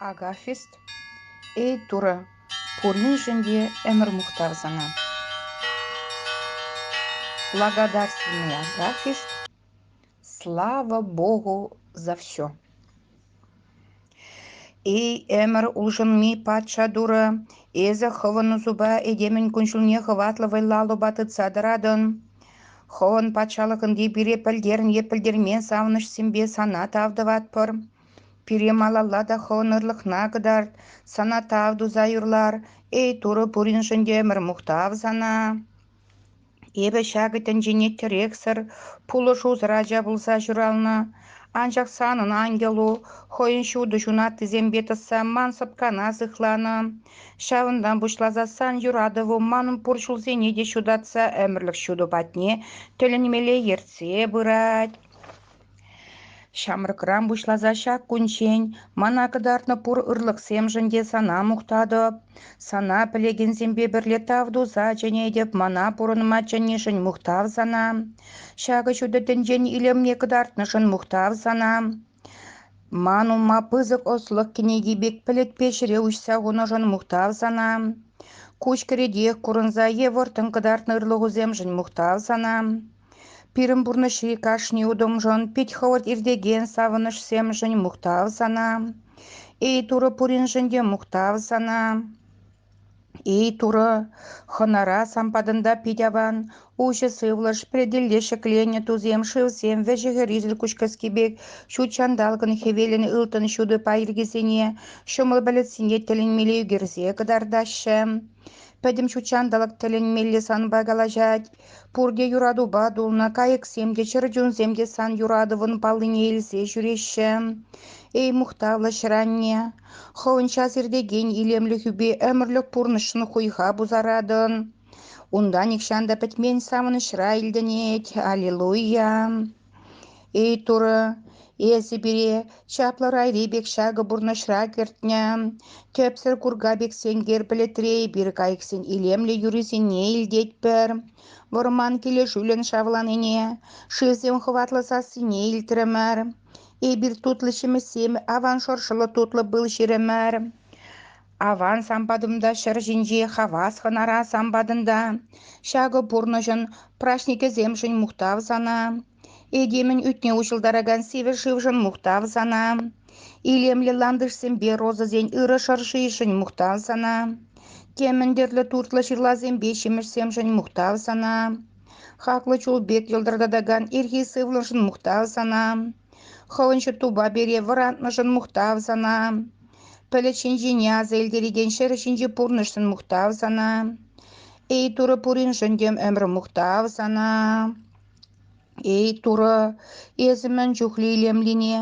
Агафист, эй Турӑ, пуриншӗн те ӗмӗр мухтав сана. Благодарственный Агафист, слава Богу за все. Эй ӗмӗр улшӑнми патша Турӑ, эсӗ хӑвӑн усупа этемӗн кун-ҫулне хӑватлӑ вӑйлаллӑпа тытса тӑратӑн. Хӑвӑн патшалӑхӑнки пире пӗлтерӗн е пӗлтермен савӑнӑҫсемпе сана тав тӑватпӑр. Пире малалла та хӑвӑн ырлӑхна кӑтарт, сана тав туса юрлар. Эй, Турӑ пуриншӗн те ӗмӗр мухтав сана. Эпӗ ҫакӑ тӗнчене тӗрексӗр, пулӑшусӑр ача пулса ҫуралнӑ. Анчах санӑн ангелу хӑйӗн ҫутӑ ҫунаттисемпе тӑсса ман сӑпкана сыхланӑ. Ҫавӑнтан пуҫласассан юратӑву манӑн пур ҫулсене те ҫутатса ӗмӗрлӗх ҫутӑ патне тӗлӗнмелле ертсе пырать. Ҫамрӑкран пуҫласа ҫак кунччен мана кӑтартнӑ пур ырлӑхсемшӗн те сана мухтатӑп, сана пӗлекенсемпе пӗрле тав туса чӗнетӗп, мана пурӑнма чӗннишӗн мухтав сана. Ҫакӑ ҫутӑ тӗнчен илемне кӑтартнӑшӑн мухтав сана. Ман умма пысӑк ӑслӑх кӗнеки пек пӗлӗтпе ҫӗре уҫса хунӑшӑн мухтав сана. Куҫ кӗретех курӑнса е вӑрттӑн кӑтартнӑ ырлӑхусемшӗн мухтав сана. Пирӗн пурнӑҫри кашни утӑмшӑн, пит хӑвӑрт иртекен савӑнӑҫсемшӗн мухтав сана. Эй, Турӑ пуриншӗн те мухтав сана. Эй, Турӑ, хӑнара сан патӑнта пит аван, уҫӑ сывлӑш, пӗлтӗлле ҫӗкленӗ тусем шывсем, вӗҫӗ-хӗррисӗр куҫкӗски пек ҫут ҫанталӑкӑн хӗвелӗн ылтӑн ҫутӑ пайӑркисене, ҫӑмӑл пӗлӗтсене тӗлӗнмелле ӳкерсе кӑтартаҫҫӗ. Пӗтӗм ҫут ҫанталӑк тӗлӗнмелле санпа калаҫать. Пурте юратупа тулнӑ, кайӑксем те, чӗрчунсем те сан юратӑвӑн паллине илсе ҫӳреҫҫӗ. Эй, мухтавлӑ ҫӗр-анне, хӑвӑн час иртекен илемлӗхӳпе ӗмӗрлӗх пурнӑҫшӑн хуйха пусаратӑн. Унта нихҫан та пӗтмен савӑнӑҫра илтӗнет. Аллилуйя! Эй, Турӑ, эсӗ пире чаплӑ райри пек ҫакӑ пурнӑҫра кӗртнӗ тӗпсӗр курка пек сенкер пӗлӗтре эпир кайӑксен илемлӗ юррисене илтетпӗр. Вӑрман килӗшӳлӗн шавланине, шывсем хӑватлӑ сассине илтрӗмӗр. Эпир тутлӑ ҫимӗҫсем аван шӑршӑллӑ тутлӑ пыл ҫирӗмӗр. Аван сан патӑмта ҫӗр ҫинчи хавас хӑнара сан патӑнта. Ҫакӑ пурнӑҫӑн праҫникӗсемшӗн мухтав сана. Этемӗн ӳтне уҫӑлтаракан сивӗ шывшӑн мухтав сана. Илемлӗ лантӑшсемпе розӑсен ырӑ шӑршишӗн мухтав сана. Темӗн тӗрлӗ туртлӑ ҫырласемпе ҫимӗҫсемшӗн мухтав сана. Хаклӑ чул пек йӑлтӑртатакан ирхи сывлӑшӑн мухтав сана. Хӑвӑн ҫӳртупа пире вӑратнӑшӑн мухтав сана. Пӗлӗт ҫинчине аса илтерекен ҫӗр ҫинчи пурнӑҫшӑн мухтав сана. Эй, Турӑ, пуриншӗн тем ӗмӗр мухтав сана. Эй, Турӑ, эсӗ мӗн чухлӗ илемлине,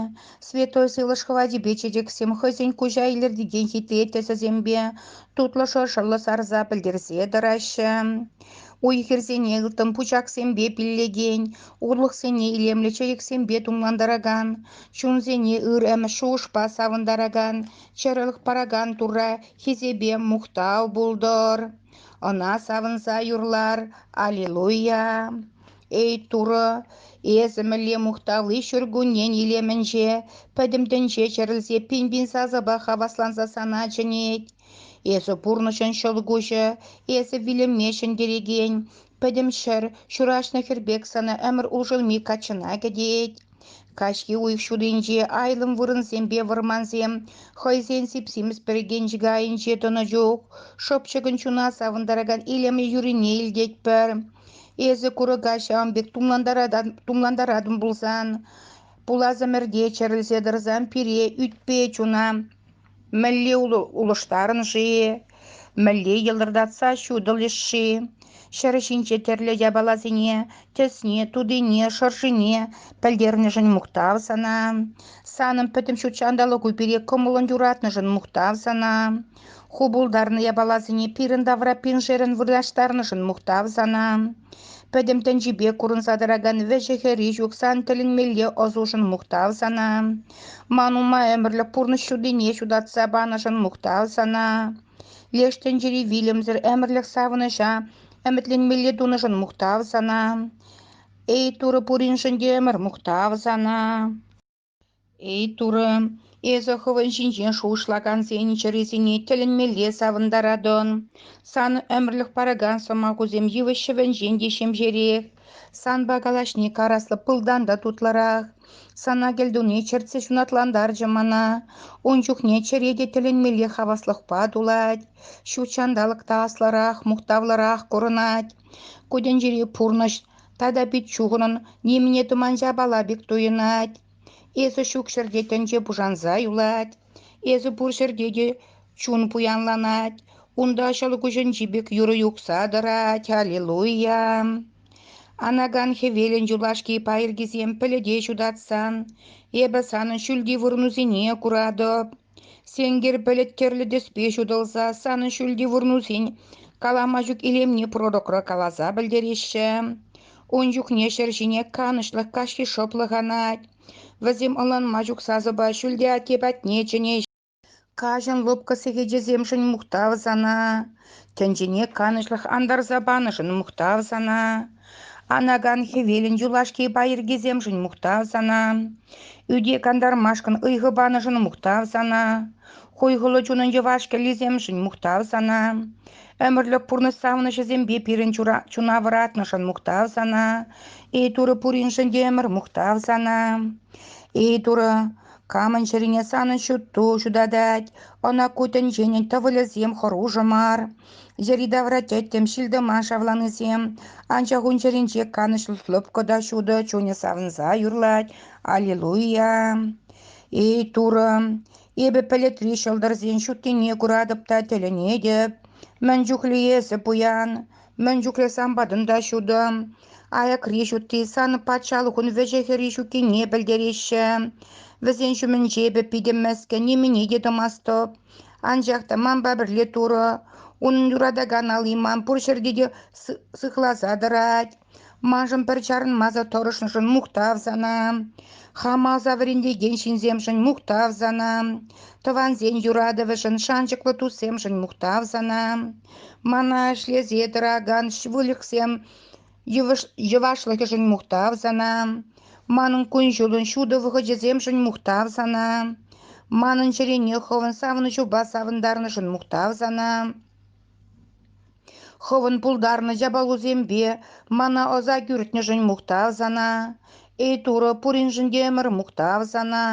святой сывлӑш хӑватӗпе чечексем хӑйсен куҫа илӗртекен хитре тӗсӗсемпе тутлӑ шӑршӑллӑ сарса пӗлтерсе тӑраҫҫӗ. Уй-хирсене ылтӑн пучахсемпе пиллекен, урлӑхсене илемлӗ чечексемпе тумлантаракан, чунсене ыр-ӗмӗт шухӑшпа савӑнтаракан, чӗрӗлӗх паракан Турра хисепе мухтав пултӑр. Ӑна савӑнса юрлар «Аллилуйя!». Эй Турӑ, эсӗ мӗнле мухтавли ҫуркуннен илемӗнче, пӗтӗм тӗнче чӗрӗлсе пин-пин сасӑпа хавасланса сана чӗнет. Эсӗ пурнӑҫӑн ҫӑлкуҫӗ, эсӗ вилӗме ҫӗнтерекен пӗтӗм ҫӗр, ҫураҫнӑ хӗр пек сана ӗмӗр улшӑнми каччӑна кӗтет. Каҫхи уйӑх ҫутинче айлӑм вырӑнсемпе вӑрмансем хӑйсен сип-симӗс пӗркенчӗкӗ айӗнче тӑнӑ чух шӑпчӑкӑн чуна савӑнтаракан илемлӗ юррине илтетпӗр. Эсӗ курӑка ҫавӑн пек тумлантаратӑн пулсан, пулас ӗмӗрте чӗрӗлсе тӑрсан пире ӳтпе чуна Мӗнле улӑштарӑн-ши? Мӗнле йӑлтӑртатса ҫутӑлӗҫ-ши? Ҫӗр ҫинче тӗрлӗ япаласене, тӗсне, тутине, шӑршине пӗлтернӗшӗн мухтав сана. Санӑн пӗтӗм ҫут ҫанталӑку пире кӑмӑллӑн юратнӑшӑн мухтав сана. Ху пултарнӑ япаласене пирӗн тавра пиншерӗн вырнаҫтарнӑшӑн мухтав сана. Пӗтӗм тӗнчипе курӑнса тӑракан вӗҫӗ-хӗрри ҫук сан тӗлӗнмелле ӑсушӑн мухтав сана. Ман ума ӗмӗрлӗх пурнӑҫ ҫутине ҫутатса панӑшӑн мухтав сана. Леш тӗнчери вилӗмсӗр ӗмӗрлӗх савӑнӑҫа ӗмӗтленмелле тунӑшӑн мухтав сана. Эй, Турӑ пуриншӗн те ӗмӗр мухтав сана. Эй, Турӑ, эсӗ хӑвӑн ҫинчен шухӑшлакансен чӗрисене тӗлӗнмелле савӑнтаратӑн. Сан ӗмӗрлӗх паракан сӑмахусем йывӑҫ ҫӑвӗнчен те ҫемҫерех. Санпа калаҫни караслӑ пылтан та тутлӑрах. Сана кӗлтуни чӗртсе ҫунатлантарчӗ мана. Ун чухне чӗре те тӗлӗнмелле хаваслӑхпа тулать. Ҫут ҫанталӑк та аслӑрах, мухтавлӑрах курӑнать. Ку тӗнчери пурнӑҫ тата пит чухӑнӑн нимӗне тӑман ҫапала пек туйӑнать. Эсӗ ҫук ҫӗрте тӗнче пушанса юлать. Эсӗ пур ҫӗрте те чун пуянланать, унта ҫӑлкуҫӗнчи пек юрӑ юхса тӑрать «Аллилуйя!». Анакан хӗвелӗн юлашки пайӑркисем пӗлӗте ҫутатсан, эпӗ санӑн ҫӳлти вырӑнусене куратӑп. Сенкер пӗлӗт тӗрлӗ тӗспе ҫутӑлса санӑн ҫӳлти вырӑнусен калама ҫук илемне пророкра каласа пӗлтереҫҫӗ. Ун чухне ҫӗр ҫине канӑҫлӑх каҫхи шӑплӑх анать. Вӗсем ӑнланма ҫук сасӑпа Ҫӳлте атте патне чӗнеҫҫӗ. Каҫӑн лӑпкӑ сехечӗсемшӗн мухтав сана, тӗнчене канӑҫлӑх антарса панӑшӑн мухтав сана, анакан хӗвелӗн юлашки пайӑркисемшӗн мухтав сана, ӳте кантармашкӑн ыйхӑ панӑшӑн мухтав сана, хуйхӑллӑ чунӑн йӑваш кӗллисемшӗн мухтав сана, Ӗмӗрлӗх пурнӑҫ савӑнӑҫӗсемпе пирӗн чуна вӑратнӑшӑн мухтав сана. Эй Турӑ пуриншӗн те ӗмӗр мухтав сана. Эй Турӑ, камӑн чӗрине санӑн ҫутту ҫутатать, ӑна ку тӗнченӗн тӑвӑлӗсем хӑрушӑ мар. Йӗри-тавра тӗттӗм ҫил-тӑман шавланисем, анчах ун чӗринче канӑҫлӑ лӑпкӑ та ҫутӑ чунӗ савӑнса юрлать. Аллилуйя! Эй Турӑ, Эпӗ пӗлӗтри ҫӑлтӑрсен ҫуттине куратӑп та тӗлӗнетӗп. Мӗн чухлӗ эсӗ пуян, мӗн чухлӗ самбатӑн та ҫутӑ. Аякри ҫутти сан патшалӑхун вӗҫӗ-хӗрри ҫуккине пӗлтереҫҫӗ. Вӗсен ҫумӗнче эпӗ питӗ мӗскӗн нимӗне те тӑмастӑп. Анчах та манпа пӗрле турӑ, унӑн юратакан али ман пур ҫӗрте те сыхласа тӑрать. Маншӑн пӗр чарӑнмасӑр тӑрӑшнӑшӑн мухтав сана. Хам аса вӗрентекен ҫынсемшӗн мухтав сана. Тӑвансен юратӑвӗшӗн, шанчӑклӑ туссемшӗн мухтав сана. Мана ӗҫлесе тӑракан выльӑхсем йӑвашлӑхӗшӗн мухтав сана. Манӑн кун-ҫулӑн ҫутӑ вӑхӑчӗсемшӗн мухтав сана. Манӑн чӗрене хӑвӑн савӑнӑҫупа савӑнтарнӑшӑн мухтав сана. Хӑвӑн пултарнӑ япалусемпе мана ӑса кӳртнӗшӗн мухтав сана. Эй Турӑ, пуриншӗн те ӗмӗр мухтав сана.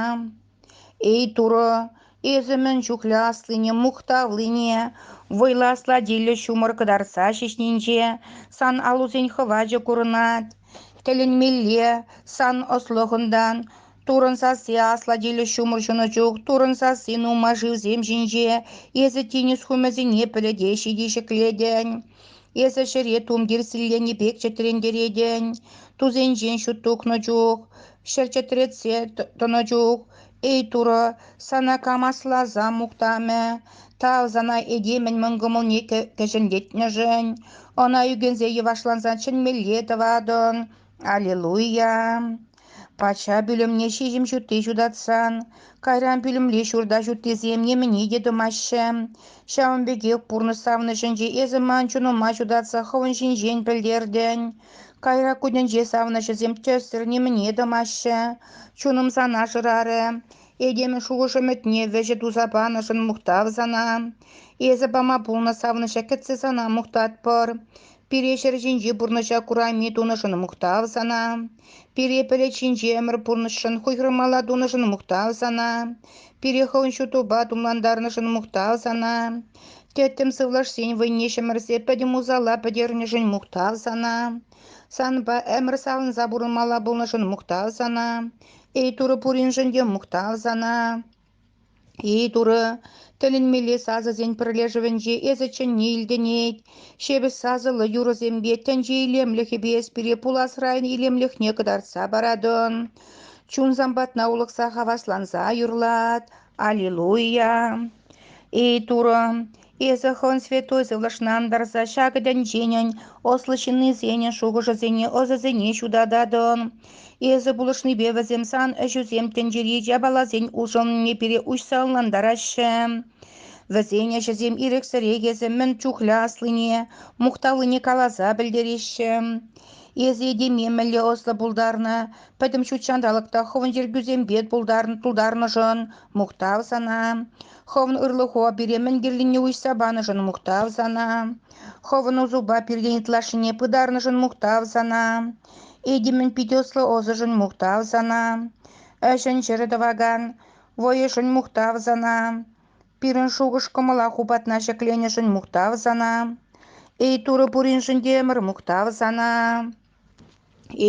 Эй Турӑ, эсӗ мӗн чухлӗ аслине, мухтавлине, вӑйлӑ аслатиллӗ ҫумӑр кӑтартса ҫиҫнинче сан алусен хӑвачӗ курӑнать. Тӗлӗнмелле сан ӑслӑхӑнтан Турӑн сасси аслӑ тилӗ ҫумӑр ҫунӑ чух Турӑн сасси нумай шывсем ҫинче Эсӗ тинӗс хумӗсене пӗлӗтеҫҫӗ те ҫӗклетӗн. Эсӗ ҫӗре тумтир силленӗ пек чӗтрентеретӗн. Тусенчен ҫут тухнӑ чух, ҫӗр чӗтретсе тӑнӑ чух, эй Турӑ, сана кам асласа мухтамӗ? Тав сана этемӗн мӑн кӑмӑлне кӗҫӗнлетнӗшӗн. Ӑна ӳкӗнсе йӑвашланса чӗнмелле тӑватӑн. Аллилуйя! Патша пӳлӗмне ҫиҫӗм ҫутти ҫутатсан, кайран пӳлӗмри ҫурта ҫуттисем нимӗне те тумаҫҫӗ. Ҫавӑн пекех пурнӑҫ савнӑҫӗнче эсӗ ман чунӑма ҫутатса хӑвӑн ҫинчен пӗлтертӗн. Кайрак кунӗнче савнӑҫӗсем тӗссӗр нимӗне тӑмаҫҫӗ. Чунӑм сана шырарӗ. Этемӗн шухӑш ӗмӗтне вӗҫӗ туса панӑшӑн мухтав сана. Эсӗ пама пулнӑ савнӑҫа кӗтсе сана мухтатпӑр. Пире ҫӗр ҫинчи пурнӑҫа курайми тунӑшӑн мухтав сана. Пире пӗлӗт ҫинчи ӗмӗр пурнӑҫшӑн хуйхӑрмалла тунӑшӑн мухтав сана. Пире хӑвӑн ҫутупа тумлантарнӑшӑн мухтав сана. Тӗттӗм сывлӑшсен вӑйне ҫӗмӗрсе пӗтӗм усала пӗтернӗшӗн мухтав сана. Санпа ӗмӗр савӑнса пурӑнмалла пулнӑшӑн мухтав сана. Эй Турӑ пуриншӗн те мухтав сана. Эй, Турӑ, тӗлӗнмелле сасӑсен пӗрлешӗвӗнче эсӗ чӗнни илтӗнет. Ҫепӗҫ сасӑллӑ юрӑсемпе тӗнче илемлӗхӗпе эс пире пуласран илемлӗхне кӑтартса паратӑн. Чунсам патна улӑхса хавасланса юрлат. Аллилуйя! Эй, Турӑ, Эсӗ хӑн святой сывлӑшнан тӑрса ҫакӑ тӗнченӗн ӑслӑ ҫыннисенӗн шухӑшӗсене, ӑсӗсене ҫутататӑн. Эсӗ пулӑшнипе вӗсем сан ӗҫӳсем тӗнчери япаласен улшӑнӑвне пире уҫса ӑнлантараҫҫӗ. Вӗсен ӗҫӗсем ирӗксӗрех эсӗ мӗн чухлӗ аслине, мухтавлине каласа пӗлтереҫҫӗ. Эсӗ этеме мӗнле ӑслӑ пултарнӑ, пӗтӗм ҫут ҫанталӑк та хӑвӑн чиркӳсемпе тултарнӑшӑн мухтав сана. Хӑвӑн ырлӑху пире мӗн кирлине уҫса панӑшӑн мухтав сана. Хӑвӑн усупа пиртен ытлашшине пытарнӑшӑн мухтав сана. Этемӗн пит ӑслӑ ӑсӗшӗн мухтав сана. Ӗҫӗн ҫӗрӗ тӑвакан вӑйӗшӗн мухтав сана. Пирӗн шухӑш-кӑмӑла ху патна ҫӗкленӗшӗн мухтав сана. Эй Турӑ пуриншӗн те ӗмӗр мухтав сана.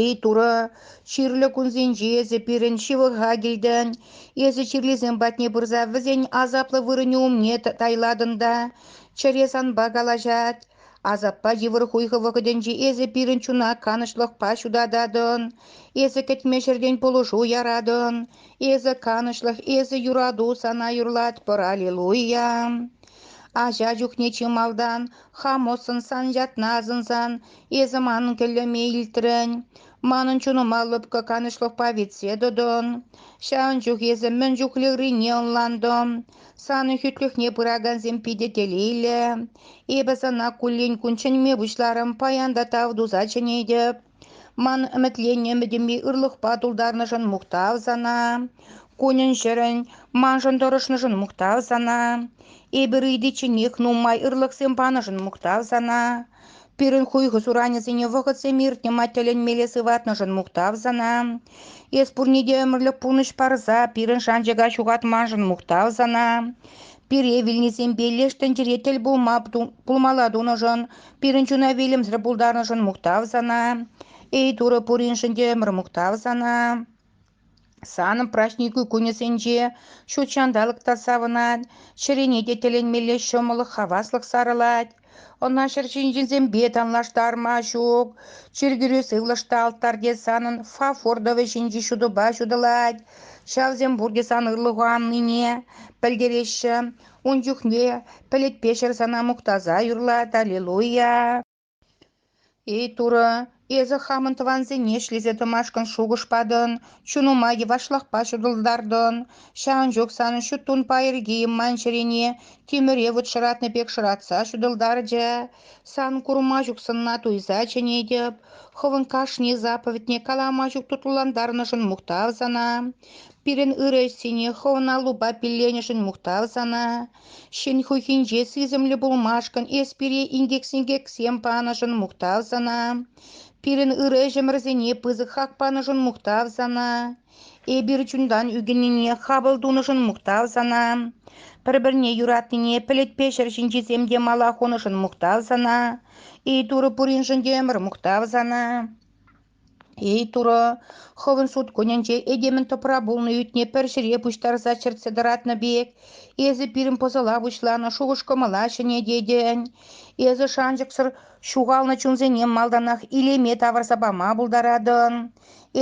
Эй, Турӑ, чирлӗ кунсенче эсӗ пирӗн ҫывӑха килтӗн, эсӗ чирлисем патне пырса вӗсен асаплӑ вырӑнӗ умне тайлатӑн та чӗре санпа калаҫать. Асаппа йывӑр хуйхӑ вӑхӑтӗнче эсӗ пирӗн чуна канӑҫлӑхпа ҫутататӑн. Эсӗ кӗтме ҫӗртен пулӑшу яратӑн. Эсӗ канӑҫлӑх, эсӗ юрату сана юрлатпӑр, аллилуйя! Ача чухне чи малтан хамоссӑн сан ятна асӑнсан Эсӗ ман кӗллеме илтрӗн, манӑн чунӑма лӑпкӑ канӑҫлӑхпа витсе тӑтӑн. Ҫавӑн чух эсӗ мӗн чухлӗрине ӑнлантӑн. Санӑн хӳтлӗхне пыракансем питӗ телейлӗ. Эпӗ сана куллен-кун чӗнме пуҫларӑм, паян та тав туса чӗнетӗп. Ман ӗмӗтленнӗ ӗмӗтӗме ырлӑхпа тултарнӑшӑн мухтав сана. Кунӗн-ҫӗрӗн, маншӑн тӑрӑшнӑшӑн мухтав сана. Эпир ыйтичченех нумай ырлӑхсем панӑшӑн мухтав сана. Пирӗн хуйхӑ суранӗсене вӑхӑтсем иртнӗ-ма тӗлӗнмелле сыватнӑшӑн мухтав сана. Эс пурне те ӗмӗрлӗх пурнӑҫ парса пирӗн шанчӑка ҫухатманшӑн мухтав сана. Пире вилнисемпе леш тӗнчере тӗл пулма пулмалла тунӑшӑн, пирӗн чуна вилӗмсӗр пултарнӑшӑн мухтав сана. Эй Турӑ пуриншӗн те ӗмӗр мухтав сана. Санӑн праҫникӳ кунӗсенче ҫут ҫанталӑк та савӑнать, чӗрене те тӗлӗнмелле ҫӑмӑллӑх, хаваслӑх сарӑлать. Ӑна ҫӗр ҫинченсемпе танлаштарма ҫук. Чиркӳре сывлӑшта алтарьте санӑн фафор тӑвӗ ҫинчи ҫутӑпа ҫутӑлать. Ҫавсем пурте сан ырлӑху аннине пӗлтереҫҫӗ. Ун чухне пӗлӗтпе ҫӗр сана мухтаса юрлать «Аллилуйя!». Эй, Турӑ, эсӗ хамӑн тӑвансене ӗҫлесе тӑмашкӑн шухӑш патӑн, чунӑма йӑвашлӑхпа ҫутӑлтартӑн. Ҫавӑн чух санӑн ҫут-тун пайӑркийӗ ман чӗрене тимӗре вут шӑратнӑ пек шӑратса ҫутӑлтарчӗ. Сан курма ҫук сӑнна туйса чӗнетӗп. Хӑвӑн кашни заповедьне калама ҫук тутлантарнӑшӑн мухтав сана. Пирӗн ырӑ ӗҫсене хӑвӑн аллупа пилленӗшӗн мухтав сана. Ҫын хухинче сисӗмлӗ пулмашкӑн эс пире инкек-синкексем панӑшӑн мухтав сана. Пирӗн ырӑ ӗҫӗмӗрсене пысӑк хак панӑшӑн мухтав сана. Эпир чунтан ӳкӗннине хапӑл тунӑшӑн мухтав сана. Пӗр-пӗрне юратнине пӗлӗтпе ҫӗр ҫинчисем те мала хунӑшӑн мухтав сана. Эй Турӑ пуриншӗн те ӗмӗр мухтав сана. Эй, Турӑ, хӑвӑн суткунӗнче этемӗн тӑпра пулнӑ ӳтне пӗр ҫӗре пуҫтарса чӗртсе тӑратнӑ пек, эсӗ пирӗн пӑсӑла пуҫланӑ шухӑш-кӑмӑла ҫӗнететӗн, эсӗ шанчӑксӑр ҫухалнӑ чунсене малтанах илеме тавӑрса пама пултаратӑн.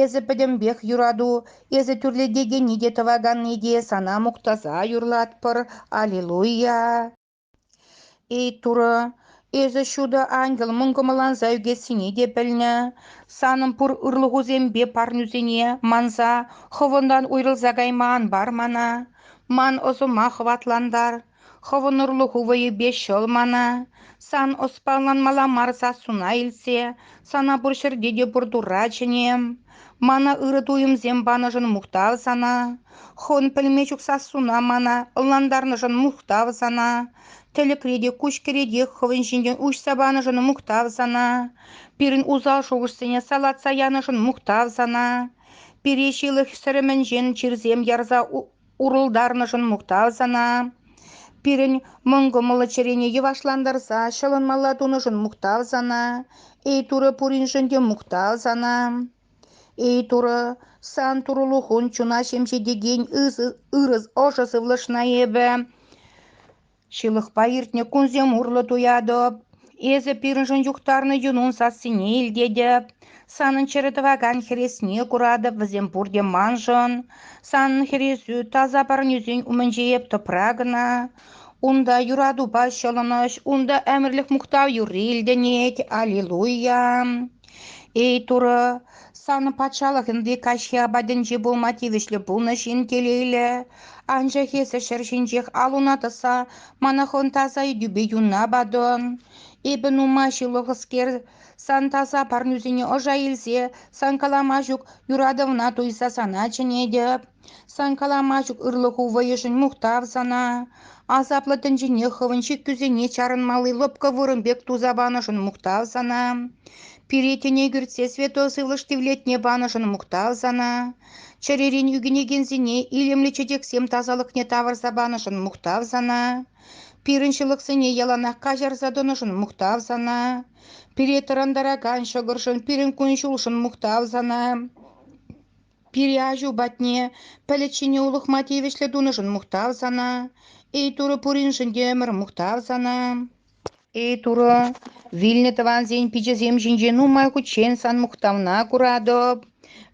Эсӗ пӗтӗмпех юрату, эсӗ тӳрлетекенни те тӑваканни те сана мухтаса юрлатпӑр, аллилуйя! Эй, Турӑ, эсӗ ҫутӑ ангел мӑн кӑмӑлланса ӳкессине те пӗлнӗ. Санӑн пур ырлӑхусемпе парнӳсене манса хӑвӑнтан уйрӑлса кайма ан пар мана. Ман ӑсӑма хӑватлантар. Хӑвӑн ырлӑху вӑйӗпе ҫӑл мана. Сан ӑс палланмалла мар сассуна илтсе, сана пур ҫӗрте те пур Турра чӗнем. Мана ырӑ туйӑмсем панӑшӑн мухтав сана. Хӑн пӗлме чух сассуна мана ӑнлантарнӑшӑн мухтав сана. Тӗлӗкре те, куҫкӗретех хӑвӑн ҫинчен уҫса панӑшӑн мухтав сана. Пирӗн усал шухӑшсене салатса янӑшӑн мухтав сана. Пире ҫылӑх сӗрӗмӗнчен чирсем ярса Урӑлтарнӑшӑн мухтав сана. Пирӗн мӑн кӑмӑллӑ чӗрене йӑвашлантарса ҫӑлӑнмалла тунӑшӑн мухтав сана. Эй Турӑ пуриншӗн те мухтав сана. Эй Турӑ, сан турлӑхун чуна ҫемҫетекен ырӑ ӑшӑ сывлӑшна эпӗ Ҫылӑхпа иртнӗ кунсем урлӑ туятӑп. Эсӗ пирӗншӗн юхтарнӑ юнун сассине илтетӗп. Санӑн чӗрӗ тӑвакан хӗресне куратӑп, вӗсем пурте маншӑн. Санӑн хӗресӳ таса парнесен умӗнче эп тӑпра кӑна. Унта юратупа ҫӑлӑнӑҫ, унта ӗмӗрлӗх мухтав юрри илтӗнет. Аллилуйя! Эй, Турӑ, санӑн патшалӑх ӗнтӗ каҫхи апатӗнче пулма тивӗҫлӗ пулнӑ ҫын телейлӗ. Анчах эсӗ ҫӗр ҫинчех ал-уна тӑса мана хӑн таса ыйтупе юнна патӑн. Эпӗ нума ҫылӑхӑскер, сан таса парнӳсене ӑша илсе, сан калама ҫук юратӑвна туйса сана чӗнетӗп. Сан калама ҫук ырлӑху вӑйӗшӗн мухтав сана. Асаплӑ тӗнчене хӑвӑн ҫиттӳсене чарӑнмалли лӑпкӑ вырӑн пек туса панӑшӑн мухтав сана. Пире тӗне кӳртсе святой сывлӑш тивлетне панӑшӑн мухтав сана. Чӗререн ӳкӗнекенсене илемлӗ чечексем тасалӑхне тавӑрса панӑшӑн мухтав сана. Пирӗн ҫылӑхсене яланах каҫарса тӑнӑшӑн мухтав сана. Пире тӑрантаракан ҫӑкӑршӑн, пирӗн кун-ҫулшӑн мухтав сана. Пире аҫу патне пӗлӗт улӑхма тивӗҫлӗ тунӑшӑн мухтав сана. Эй Турӑ пуриншӗн те ӗмӗр мухтав сана. Эй Турӑ, вилнӗ тӑвансен пиччесем ҫинче нумай хутчен сан мухтавна куратӑп.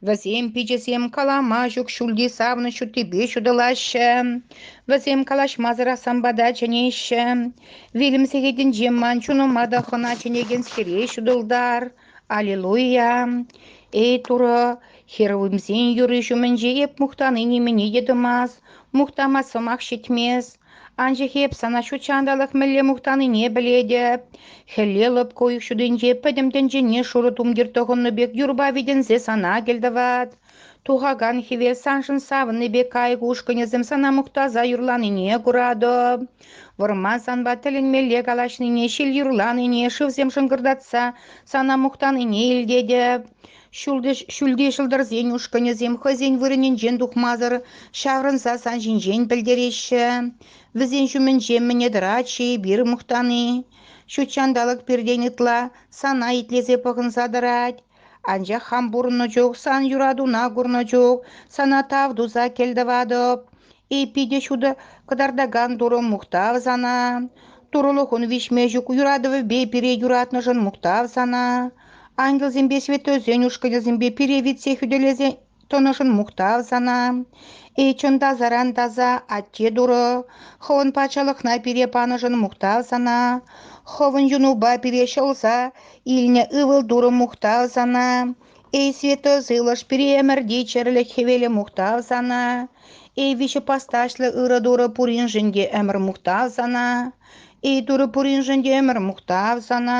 Вӗсем пиччесем калама ҫук ҫӳлти савнӑҫ ҫуттипе ҫутӑлаҫҫӗ. Вӗсем калаҫмасӑрах сан пата чӗнеҫҫӗ. Вилӗм сехетӗнче ман чунӑма та хӑна чӗнекенскере ҫутӑлтар. Аллилуйя, эй Турӑ, херувимсен юрри ҫумӗнче эп мухтани нимене те тӑмасть, мухтамасть сӑмах ҫитмест. Анчах эп сана ҫут ҫанталӑк мӗнле мухтанине пӗлетӗп. Хӗлле лӑпкӑ уйӑх ҫутинче пӗтӗм тӗнчене шурӑ тумтир тӑхӑннӑ пек юрпа витӗнсе сана кӗлтӑват. Тухакан хӗвел саншӑн савӑннӑ пек кайӑк ушкӑнӗсем сана мухтаса юрланине куратӑп. Вӑрма санпа тӗлӗнмелле калаҫнине, ҫил юрланине, шывсем шӑнкӑртатса сана мухтанине илтетӗ. Ҫӳлти ҫӑлтӑрсен ушкӑнӗсем хӑйсен вырӑнӗнчен тухмасӑр ҫаврӑнса сан ҫинчен пӗлтереҫҫӗ. Вӗсен ҫумӗнче мӗне тӑрать-ши эпир мухтани? Ҫут ҫанталӑк пиртен ытла сана итлесе пӑхӑнса тӑрать. Анчах хам пурӑннӑ чух, сан юратуна курнӑ чух сана тав туса кӗлтӑватӑп. И питӗ ҫутӑ кӑтартакан Турӑ мухтав сана. Турӑлӑхун виҫме ҫук юратӑвӗпе пире юратнӑшӑн мухтав сана. Ангелсемпе святойсен ушкӑнӗсемпе пире витсе хӳтӗлесе тӑнӑшӑн мухтав сана. Эй, чӑн та саран таса атте Турӑ, хӑвӑн патшалӑхна пире панӑшӑн мухтав сана. Хӑвӑн юнупа пире ҫӑлса илнӗ ывӑл-турӑм мухтав сана. Эй, святой сывлӑш, пире ӗмӗрти чӗрлӗх хӗвелӗ мухтав сана. Эй, виҫӗ пасташлӑ ырӑ Турӑ пуриншӗн те ӗмӗр мухтав сана. Эй, Турӑ пуриншӗн те ӗмӗр мухтав сана.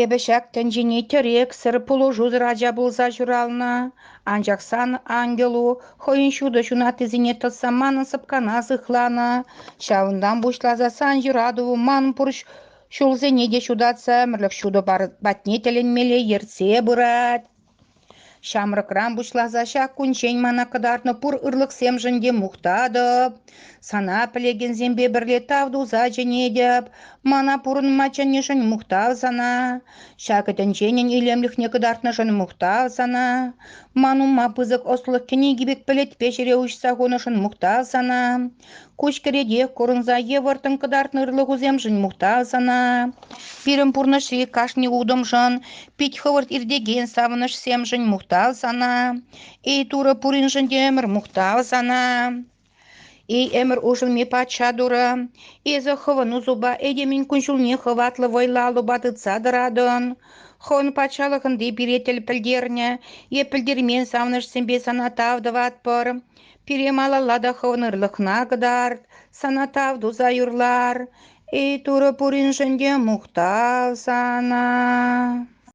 Эпӗ ҫак тӗнчене тӗрексӗр пулӑшусӑр ача пулса ҫуралнӑ, анчах сан ангелу хӑйӗн ҫутӑ ҫунаттисене тӑсса манӑн сӑпкана сыхланӑ. Ҫавӑнтан пуҫласа сан юрату ман пур ҫулсене те ҫутатса ӗмӗрлӗх ҫутӑ патне тӗлӗнмелле ертсе пырать. Ҫамрӑкран пуҫласа ҫак кунччен мана кӑтартнӑ пур ырлӑхсемшӗн те мухтатӑп, сана пӗлекенсемпе пӗрле тав туса чӗнетӗп, мана пурӑнма чӗннӗшӗн мухтав сана, ҫакӑ тӗнченӗн илемлӗхне кӑтартнӑшӑн мухтав сана, ман умма пысӑк ӑслӑх кӗнеки пек пӗлӗтпе ҫӗре уҫса хунӑшӑн мухтав сана. Куҫ кӗретех курӑнса йывӑртӑн кӑтартнӑ ырлӑхусемшӗн мухтав сана. Пирӗн пурнӑҫри кашни утӑмшӑн, пит хӑвӑрт иртекен савӑнӑҫсемшӗн мухтав сана. Эй, Турӑ пуриншӗн те ӗмӗр мухтав сана. Эй, ӗмӗр улшӑнми патша Турӑ, эсӗ хӑвӑн усупа этемӗн кун-ҫулне хӑватлӑ вӑйлаллӑпа тытса тӑратӑн. Хӑвӑн патшалӑхӑнти пире тӗл пӗлтернӗ е пӗлтермен савӑнӑҫсемпе сана тав тӑватпӑр. Пире малалла та хӑвнӑрлӑхна кӑтарт, сана тав туса юрлар, эй Турӑ пуриншӗн те мухтав сана.